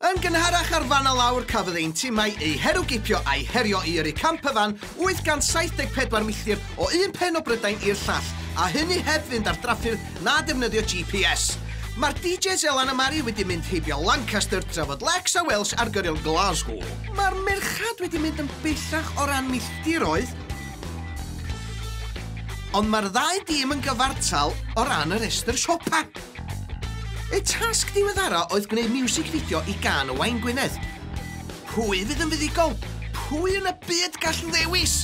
Yn gynharach ar fan a lawr cafodd ein timau eu herwgipio a'i herio i yrru camp y fan 874 milltir o un pen o Brydain i'r llall, a hynny heb fynd ar draffyrdd na defnyddio GPS. Mae'r DJs Elan a Mari wedi mynd heibio Lancaster trafod Lex a Welsh ar gyrion Glasgow. Mae'r merched wedi mynd yn bellach o ran milltiroedd, Ond mae'r ddau dîm yn gyfartal o ran y rhestr siopa. Y tasg diweddara oedd gwneud miwsig fideo i gan y Wain Gwynedd. Pwy fydd yn fuddugol? Pwy yn y byd gall ddewis?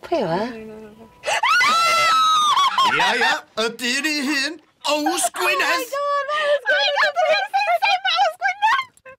Pwy yw e? Ia, ia, y dyn ei hun, Ows Gwynedd! Oh my god, Ows Gwynedd!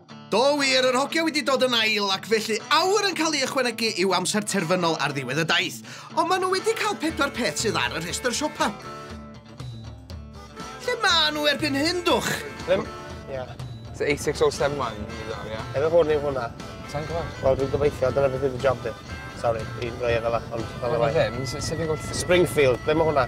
Do wir, yr hogia wedi dod yn ail ac felly awr yn cael ei ychwanegu i'w amser terfynol ar ddiwedd y daith. Ond maen nhw wedi cael pedwar peth sydd ar y rhestr siopa. Lle maen nhw erbyn hyn, dwch? Ddim. Ie. So 86071 i ddod, ie? Efo hwn yw hwnna. Sa'n gwybod? Wel, dwi'n gobeithio, dyna beth yw dy job di. Sorry, i roi e fel ond fel y Wel, ddim, sef fi'n gwybod... Springfield, ble mae hwnna?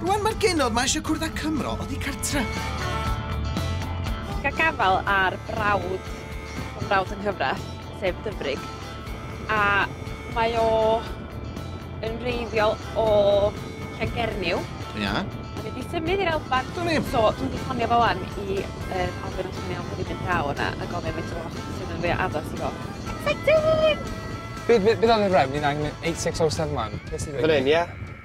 Rwan mae'r genod ma eisiau cwrdd â Cymro oddi cartre. Ga gafael ar brawd fy mrawd yng nghyfraith, sef Dyfrig, a mae o yn wreiddiol o Llangernyw. Ia. A mae 'di symud i'r Alban. Dwn i'm. So dwi 'di ffonio fo wan i yr Alban os mae'n iawn bod fi'n mynd draw yna a gofyn faint o loch sydd yn fwya addas i fo. Exciting! Be' be' be' ddaru Rem ni'n angen 8607 man? Be' sy 'di ddigwydd? Fan 'yn ia?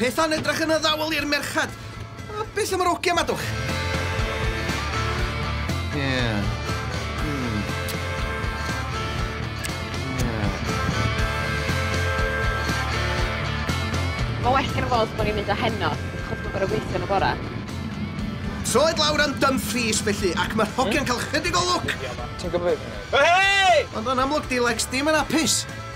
Pethau'n edrych yn addawol i'r merched. A beth am yr ogiau, madwch? Ie. Yeah. Mae well gen y fod bod ni'n mynd â heno, achos mae'n gorau gweithio yn y bora. Troed lawr am Dumfries, felly, ac mae'r hogiau'n cael chydig o lwc! Ti'n gwybod beth? Hei! Ond yn amlwg, di Lex ddim yn apus.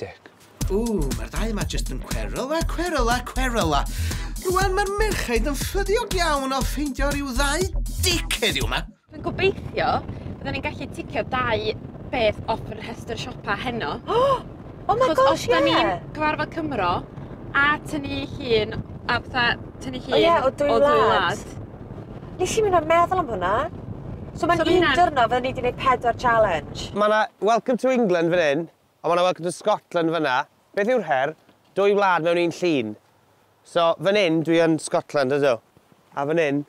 Dic. Ww, mae'r dau yma jyst yn cweryla, cweryla, cweryla. Rwan mae'r merchaid yn ffyddiog iawn o ffeindio rhyw ddau dic heddiw yma. Dwi'n gobeithio byddwn ni'n gallu ticio dau beth off yr rhestr siopa heno. Oh, oh my gosh, os da ni'n cyfarfod Cymro a tynnu llun, a fatha tynnu llun o dwy wlad. Nes i myn' a meddwl am hwnna. So ma'n un dwrnod fydden ni 'di neud pedwar challenge. Ma' 'na Welcome to England fan 'yn, a ma' 'na Welcome to Scotland fan 'na. Beth yw'r her? Dwy wlad mewn un llun. So, fan 'yn dwi yn Scotland, ydw. A fan 'yn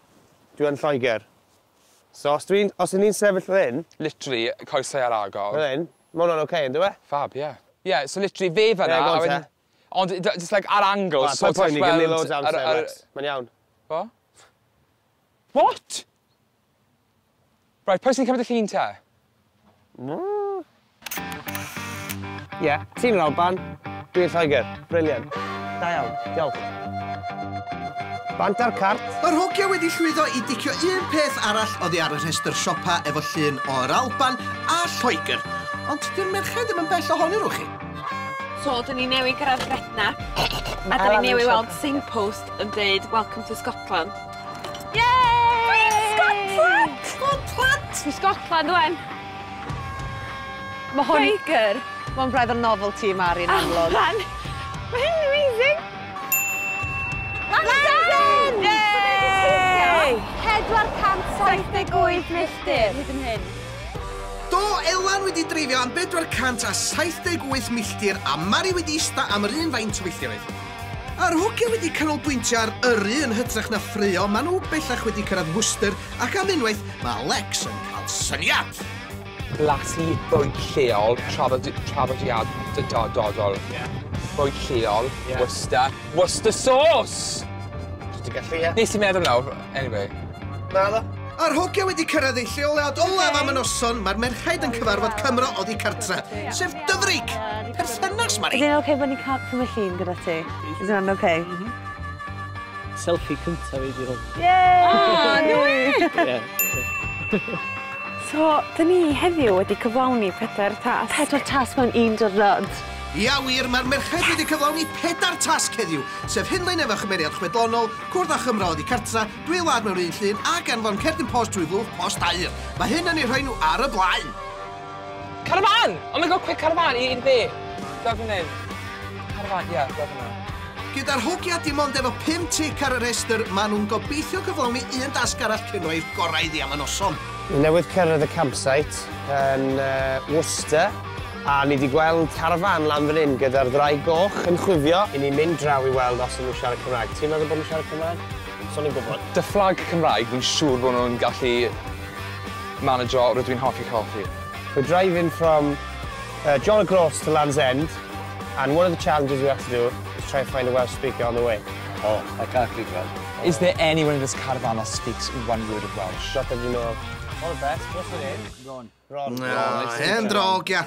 dwi yn Lloegr. So os dwi'n, os 'yn ni'n sefyll fan 'yn... Literally, coesau ar agor. Fel 'yn. Ma' hwnna'n ocê, yndyw e? Fab, ie. Ie, so literally fe fan 'na a wedyn... Ond d- jyst like ar angles. Wel paid poeni gin ddim loads o amser mêt. Mae'n iawn. Be'? What? Right, pwy sy'n cymryd y llun te? Ie, ti'n yr Alban, dwi'n Lloegr. Brilliant. Da iawn. Diolch. Bant ar cart. Yr hogia wedi llwyddo i dicio un peth arall oddi ar y rhestr siopa efo llun o yr Alban a Lloegr. Ond 'di'r merched ddim yn bell ohonyn nhw chi. So, dyn ni newydd gyrraedd Gretna, a dyn ni newydd weld signpost yn dweud Welcome to Scotland. Yay! Scotland! Scotland! Fi Scotland, wen. Mae hwn... Quaker! Mae'n braidd o'r novel ti, Mari, yn amlwg. Allan! Mae hyn amazing! Lansen! Yay! 478 milltir hyd yn hyn. Do, Elan wedi dreifio am 478 milltir a Mari wedi ista am yr un faint o filltiroedd. A'r hogia wedi canolbwyntio ar yrru yn hytrach na ffraeo, maen nhw bellach wedi cyrraedd Worcester ac am unwaith mae Alex yn cael syniad! Blasu bwyd lleol, traddodiadol. Bwyd lleol, Worcester. Worcester sauce! Ti'n gallu, ie? Nes i meddwl nawr. Anyway. Na ddo. A'r hogia wedi cyrraedd eu lleoliad olaf am y noson, mae'r merchaid yn cyfarfod Cymro oddi cartre, sef dyfrig! Perthynas, Mari! Ydy'n oce bod ni'n cael cymryd llun gyda ti? Is that oce? Mhm. Selfie cyntaf i di hwn. Yay! Ah, no way! So, dyn ni heddiw wedi cyflawni pedair tas. Pedair tas mewn un dyrnod. Ia wir, mae'r merched wedi cyflawni pedair tasg heddiw, sef hynlaen efo chymeriad chwedlonol, Cwrdd â Chymro oddi cartra, dwy wlad mewn un llun, ac anfon cerdyn post trwy lwch post aur. Mae hyn yn eu rhoi nhw ar y blaen! Carafán! Oh my God, quick carafán i i'r dde! Fel dwi'n neud. Carafán, ie, fel hwnna. Gyda'r hogia dim ond efo pum tic ar y rhestr, maen nhw'n gobeithio cyflawni un dasg arall cyn rhoi'r gorau iddi am y noson. Newydd cyrraedd y campsite yn Worcester. A ni di gweld carafan lan fan hyn gyda'r ddraig goch yn chwifio i ni mynd draw i weld os yn nhw'n siarad Cymraeg. Ti'n meddwl bod nhw'n siarad Cymraeg? So ni'n gwybod. Dy fflag Cymraeg, fi'n siŵr bod nhw'n gallu manegio, rydw i'n hoffi coffi. We're driving from uh, John O'Groats to Land's End and one of the challenges we have to do is try and find a Welsh speaker on the way. Oh, I can't speak Welsh. Oh. Is there anyone in this caravan that speaks one word of Welsh? Not that you know. All the best, what's your name? Ron. Ron. Oh, hen drog, ia.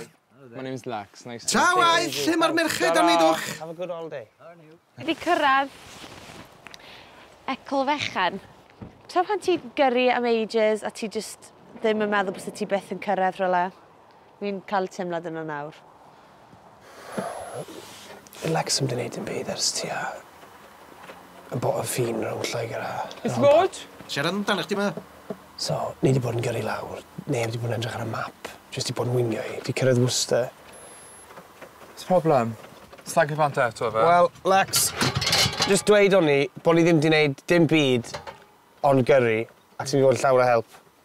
My name's Lax, nice to Ta waith, lle mae'r merched am wneud o'ch? Have a good all day. Wedi cyrraedd Ecl Fechan. Ta pan ti'n gyrru am ages a ti just ddim yn meddwl bys ti byth yn cyrraedd rhywle. Fi'n cael y teimlad yna nawr. Yy Lex ddim 'di neud dim byd ers tua y bo- y ffin rownd Lloegr a... It's Maude. Siarad amdana chdi 'ma. So, ni 'di bod yn gyrru lawr, neb 'di bod yn edrych ar y map, jyst 'di bod yn wingio i. Fi cyrraedd Worcester. What's problem? Slag i bant eto ife? Wel, Lex, jyst dweud o'n i bo' ni ddim 'di neud dim byd ond gyrru, ac ti 'di bod yn llawn o help.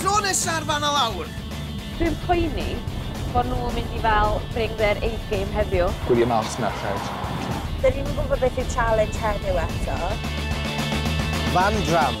Tro nesa'r fan o lawr! Dwi'n poeni bod nhw'n mynd i fel bring their A game heddiw. Gwylio mas merched. Dyn ni'n gwybod beth yw challenge heddiw eto. Van Dram.